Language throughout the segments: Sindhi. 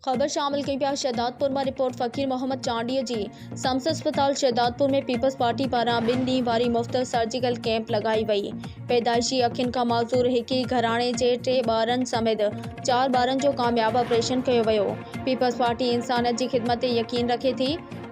خبر شامل ڪيون پيا شهدادپور مان رپورٽ فقير محمد چانڊيي جي سمس اسپتال شهدادپور ۾ پيپلز پارٽي پاران ٻن ڏينهن واري مفت سرجيڪل ڪيمپ لڳائي وئي پيدائشي اکين کان معذور هڪ ئي گهراڻي جي ٽي ٻارن سميت چار ٻارن جو ڪامياب آپريشن ڪيو ويو پيپلز پارٽي انسانيت جي خدمت تي يقين رکي ٿي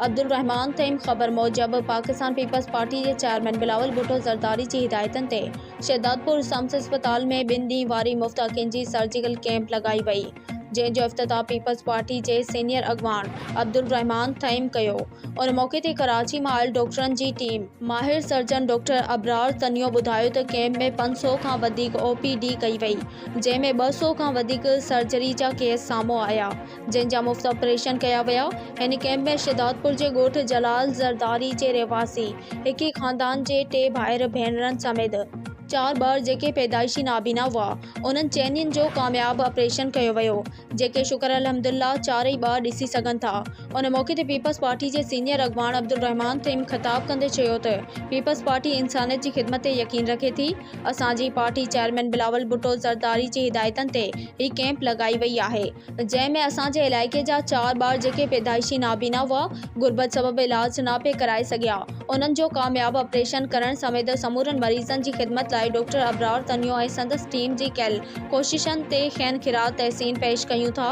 عبدالرحمان تيم خبر موجب پاڪستان پيپلز پارٽي جي چيئرمين بلاول ڀٽو زرداري جي هدايتن تي شهدادپور سمس اسپتال ۾ ٻن ڏينهن واري مفت اکين جي سرجيڪل ڪيمپ لڳائي وئي جنهن جو افتتاح پيپلز پارٽي جي سينيئر اڳواڻ عبدالرحمان ٿهيم ڪيو ان موقعي تي ڪراچي مان آيل ڊاڪٽرن جي ٽيم ماهر سرجن ڊاڪٽر ابرار تنيو ٻڌايو ته ڪئمپ ۾ پنج سؤ کان وڌيڪ او پي ڊي ڪئي وئي جنهن ۾ ٻه سؤ کان وڌيڪ سرجري جا ڪيس سامهون آيا جن جا مفت آپريشن ڪيا ويا هن ڪئمپ ۾ شهدادپور جي ڳوٺ جلال زرداري جي رهواسي هڪ ئي خاندان جي ٽي ڀائر ڀينرن سميت چار ٻار جيڪي پيدائشي نابينا هئا انهن چئنين جو ڪامياب آپريشن ڪيو ويو، جيڪي شڪر الحمدالله چارئي ٻار ڏسي سگهن ٿا. ان موقعي تي پيپلز پارٽي جي سينيئر اڳواڻ عبدالرحمان تريم خطاب ڪندي چيو ته پيپلز پارٽي انسانيت جي خدمت تي يقين رکي ٿي، اسان جي پارٽي چيئرمين بلاول ڀٽو زرداري جي هدايتن تي هي ڪئمپ لڳائي وئي آهي. جنهن ۾ اسان جي علائقي جا چار ٻار جيڪي پيدائشي نابينا هئا، غربت سبب علاج نه پئي ڪرائي سگهيا، انهن جو ڪامياب آپريشن ڪرڻ سميت سمورن مريضن جي خدمت لاء ڊاڪٽر ابرار تنيو ۽ سندس ٽيم جي ڪيل ڪوششن تي کين خراج تحسين پيش ڪيون ٿا.